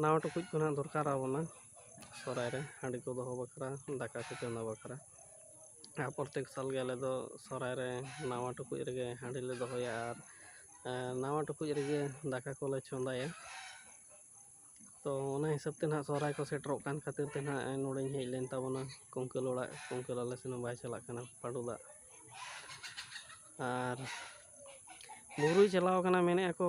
ᱱᱟᱣᱟ ᱴᱩᱠᱩᱡ ᱠᱚ ᱱᱟᱦᱟᱜ ᱫᱚᱨᱠᱟᱨ ᱟᱵᱚᱱᱟ ᱥᱚᱦᱨᱟᱭ ᱨᱮ ᱦᱟᱺᱰᱤ ᱠᱚ ᱫᱚᱦᱚ ᱵᱟᱠᱷᱨᱟ ᱫᱟᱠᱟ ᱠᱚ ᱪᱚᱸᱫᱟ ᱵᱟᱠᱷᱨᱟ ᱟᱨ ᱯᱨᱚᱛᱮᱠ ᱥᱟᱞ ᱜᱮ ᱟᱞᱮ ᱫᱚ ᱥᱚᱦᱨᱟᱭ ᱨᱮ ᱱᱟᱣᱟ ᱴᱩᱠᱩᱡ ᱨᱮᱜᱮ ᱦᱟᱺᱰᱤ ᱞᱮ ᱫᱚᱦᱚᱭᱟ ᱟᱨ ᱱᱟᱣᱟ ᱴᱩᱠᱩᱡ ᱨᱮᱜᱮ ᱫᱟᱠᱟ ᱠᱚᱞᱮ ᱪᱚᱸᱫᱟᱭᱟ ᱛᱚ ᱚᱱᱟ ᱦᱤᱥᱟᱹᱵ ᱛᱮ ᱱᱟᱦᱟᱜ ᱥᱚᱦᱨᱟᱭ ᱠᱚ ᱥᱮᱴᱮᱨᱚᱜ ᱠᱟᱱ ᱠᱷᱟᱹᱛᱤᱨ ᱛᱮ ᱱᱟᱦᱟᱜ ᱱᱚᱰᱮᱧ ᱦᱮᱡ ᱞᱮᱱ ᱛᱟᱵᱚᱱᱟ ᱠᱩᱝᱠᱟᱹᱞ ᱚᱲᱟᱜ ᱠᱩᱝᱠᱟᱹᱞ ᱟᱞᱮ ᱥᱮᱱ ᱦᱚᱸ ᱵᱟᱭ ᱪᱟᱞᱟᱜ ᱠᱟᱱᱟ ᱯᱟᱺᱰᱩ ᱫᱟᱜ ᱟᱨ ᱵᱩᱨᱩᱭ ᱪᱟᱞᱟᱣ ᱠᱟᱱᱟ ᱢᱮᱱᱮᱫᱼᱟ ᱠᱚ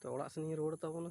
ᱛᱚ ᱚᱲᱟᱜ ᱥᱮᱱᱤᱧ ᱨᱩᱣᱟᱹᱲ ᱛᱟᱵᱚᱱᱟ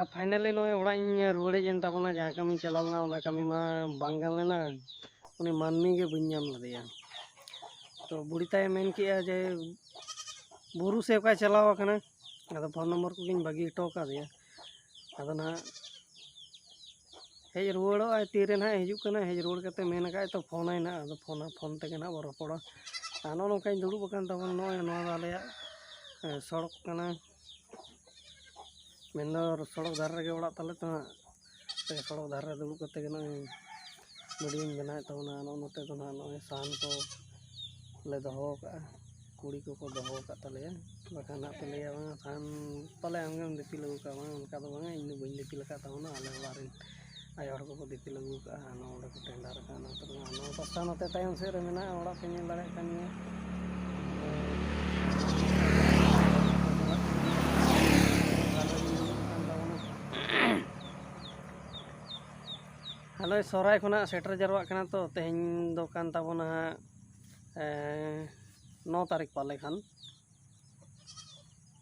ᱟᱨ ᱯᱷᱟᱭᱱᱟᱞᱤ ᱱᱚᱜᱼᱚᱭ ᱚᱲᱟᱜ ᱤᱧ ᱨᱩᱣᱟᱹᱲᱮᱡ ᱮᱱ ᱛᱟᱵᱚᱱᱟ ᱡᱟᱦᱟᱸ ᱠᱟᱹᱢᱤᱧ ᱪᱟᱞᱟᱣ ᱞᱮᱱᱟ ᱚᱱᱟ ᱠᱟᱹᱢᱤ ᱢᱟ ᱵᱟᱝ ᱜᱟᱱ ᱞᱮᱱᱟ ᱩᱱᱤ ᱢᱟᱹᱱᱢᱤ ᱜᱮ ᱵᱟᱹᱧ ᱧᱟᱢ ᱞᱮᱫᱮᱭᱟ ᱛᱚ ᱵᱩᱲᱦᱤ ᱛᱟᱭᱮ ᱢᱮᱱ ᱠᱮᱜᱼᱟ ᱡᱮ ᱵᱩᱨᱩ ᱥᱮ ᱚᱠᱟᱭ ᱪᱟᱞᱟᱣ ᱟᱠᱟᱱᱟ ᱟᱫᱚ ᱯᱷᱳᱱ ᱱᱚᱢᱵᱚᱨ ᱠᱚᱜᱮᱧ ᱵᱟᱹᱜᱤ ᱦᱚᱴᱚ ᱠᱟᱫᱮᱭᱟ ᱟᱫᱚ ᱱᱟᱦᱟᱜ ᱦᱮᱡ ᱨᱩᱣᱟᱹᱲᱚᱜ ᱟᱭ ᱛᱤᱨᱮ ᱱᱟᱦᱟᱜ ᱦᱤᱡᱩᱜ ᱠᱟᱱᱟ ᱦᱮᱡ ᱨᱩᱣᱟᱹᱲ ᱠᱟᱛᱮ ᱢᱮᱱ ᱟᱠᱟᱫ ᱛᱚ ᱯᱷᱳᱱᱟᱭ ᱱᱟᱦᱟᱜ ᱟᱫᱚ ᱯᱷᱳᱱᱟ ᱯᱷᱳᱱ ᱛᱮᱜᱮ ᱱᱟᱦᱟᱜ ᱵᱚ ᱨᱚᱯᱚᱲᱟ ᱟᱨ ᱱᱚᱜᱼᱚ ᱱᱚᱝᱠᱟᱧ ᱫᱩᱲᱩᱵ ᱟᱠᱟᱱ ᱛᱟᱵᱚᱱ ᱱᱚᱜᱼᱚᱭ ᱱᱚᱣᱟ ᱫᱚ ᱟᱞᱮᱭᱟᱜ ᱥᱚᱲᱚᱠ ᱠᱟᱱᱟ ᱢᱮᱱ ᱫᱚ ᱥᱚᱲᱚᱠ ᱫᱷᱟᱨᱮ ᱨᱮᱜᱮ ᱚᱲᱟᱜ ᱛᱟᱞᱮ ᱛᱚ ᱦᱟᱸᱜ ᱥᱚᱲᱚᱠ ᱫᱷᱟᱨᱮ ᱨᱮ ᱫᱩᱲᱩᱵ ᱠᱟᱛᱮ ᱜᱮ ᱱᱚᱜᱼᱚᱭ ᱵᱷᱤᱰᱭᱳᱧ ᱵᱮᱱᱟᱣᱮᱫ ᱛᱟᱵᱚᱱᱟ ᱱᱚᱜᱼᱚ ᱱᱚᱛᱮ ᱫᱚ ᱦᱟᱸᱜ ᱱᱚᱜᱼᱚᱭ ᱥᱟᱦᱟᱱ ᱠᱚ ᱞᱮ ᱫᱚᱦᱚ ᱠᱟᱜᱼᱟ ᱠᱩᱲᱤ ᱠᱚᱠᱚ ᱫᱚᱦᱚ ᱟᱠᱟᱫ ᱛᱟᱞᱮᱭᱟ ᱵᱟᱠᱷᱟᱱ ᱦᱟᱸᱜ ᱯᱮ ᱞᱟᱹᱭᱟ ᱵᱟᱝᱟ ᱥᱟᱦᱟᱱ ᱯᱟᱞᱮ ᱟᱢᱜᱮᱢ ᱫᱤᱯᱤᱞ ᱟᱹᱜᱩ ᱠᱟᱜᱼᱟ ᱵᱟᱝ ᱚᱱᱠᱟ ᱫᱚ ᱵᱟᱝᱟ ᱤᱧ ᱫᱚ ᱵᱟᱹᱧ ᱫᱤᱯᱤᱞ ᱟᱠᱟᱫ ᱛᱟᱵᱚᱱᱟ ᱟᱞᱮ ᱚᱲᱟᱜ ᱨᱮᱱ ᱟᱭᱳ ᱦᱚᱲ ᱠᱚᱠᱚ ᱫᱤᱯᱤᱞ ᱟᱹᱜᱩ ᱠᱟᱜᱼᱟ ᱱᱚᱣᱟ ᱚᱸᱰᱮ ᱠᱚ ᱴᱮᱸᱰᱟᱨ ᱠᱟᱜᱼᱟ ᱱᱚᱛᱮ ᱨᱮ ᱱᱚᱣᱟ ᱯᱟᱥᱴᱟ ᱱᱚᱛᱮ ᱛᱟᱭᱚᱢ ᱥᱮᱫ ᱨᱮ ᱢᱮᱱᱟᱜᱼᱟ ᱚᱲᱟᱜ ᱯᱮ ᱧᱮᱞ ᱫᱟᱲᱮᱭᱟᱜ ᱠᱟᱱ ᱜᱮᱭᱟ ᱟᱞᱮ ᱥᱚᱦᱨᱟᱭ ᱠᱷᱚᱱᱟᱜ ᱥᱮᱴᱮᱨ ᱡᱟᱣᱨᱟᱜ ᱠᱟᱱᱟ ᱛᱚ ᱛᱮᱦᱮᱧ ᱫᱚ ᱠᱟᱱ ᱛᱟᱵᱚᱱᱟ ᱦᱟᱸᱜ ᱱᱚ ᱛᱟᱹᱨᱤᱠᱷ ᱯᱟᱞᱮ ᱠᱷᱟᱱ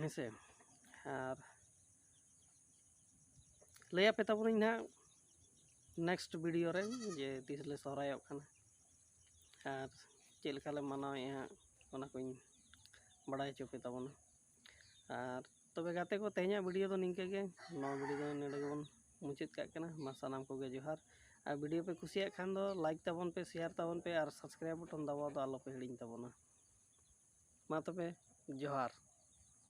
ᱦᱮᱸᱥᱮ ᱟᱨ ᱞᱟᱹᱭᱟᱯᱮ ᱛᱟᱵᱚᱱᱟᱹᱧ ᱱᱟᱦᱟᱜ ᱱᱮᱠᱥᱴ ᱵᱷᱤᱰᱤᱭᱳ ᱨᱮ ᱡᱮ ᱛᱤᱥ ᱞᱮ ᱥᱚᱦᱨᱟᱭᱚᱜ ᱠᱟᱱᱟ ᱟᱨ ᱪᱮᱫ ᱞᱮᱠᱟ ᱞᱮ ᱢᱟᱱᱟᱣᱮᱫᱼᱟ ᱦᱟᱸᱜ ᱚᱱᱟ ᱠᱚᱧ ᱵᱟᱲᱟᱭ ᱦᱚᱪᱚ ᱯᱮ ᱛᱟᱵᱚᱱᱟ ᱟᱨ ᱛᱚᱵᱮ ᱜᱟᱛᱮ ᱠᱚ ᱛᱮᱦᱮᱧᱟᱜ ᱵᱷᱤᱰᱤᱭᱳ ᱫᱚ ᱱᱤᱝᱠᱟᱹ ᱜᱮ ᱱᱚᱣᱟ ᱵᱷᱤᱰᱤᱭᱳ ᱫᱚ ᱱᱚᱰᱮ ᱜᱮᱵᱚᱱ ᱢᱩᱪᱟᱹᱫ ᱠᱟᱜ ᱠᱟᱱᱟ ᱢᱟ ᱥᱟᱱᱟᱢ ᱠᱚᱜᱮ ᱡᱚᱦᱟᱨ ᱟᱨ ᱵᱷᱤᱰᱤᱭᱳ ᱯᱮ ᱠᱩᱥᱤᱭᱟᱜ ᱠᱷᱟᱱ ᱫᱚ ᱞᱟᱭᱤᱠ ᱛᱟᱵᱚᱱ ᱯᱮ ᱥᱮᱭᱟᱨ ᱛᱟᱵᱚᱱ ᱯᱮ ᱟᱨ ᱥᱟᱵᱥᱠᱨᱟᱭᱤᱵ ᱵᱚᱴᱚᱱ ᱫᱟᱵᱟᱣ ᱫᱚ ᱟᱞᱚᱯᱮ ᱦᱤᱲᱤᱧ ᱛᱟᱵᱚᱱᱟ ᱢᱟ ᱛᱚᱵᱮ ᱡᱚᱦᱟᱨ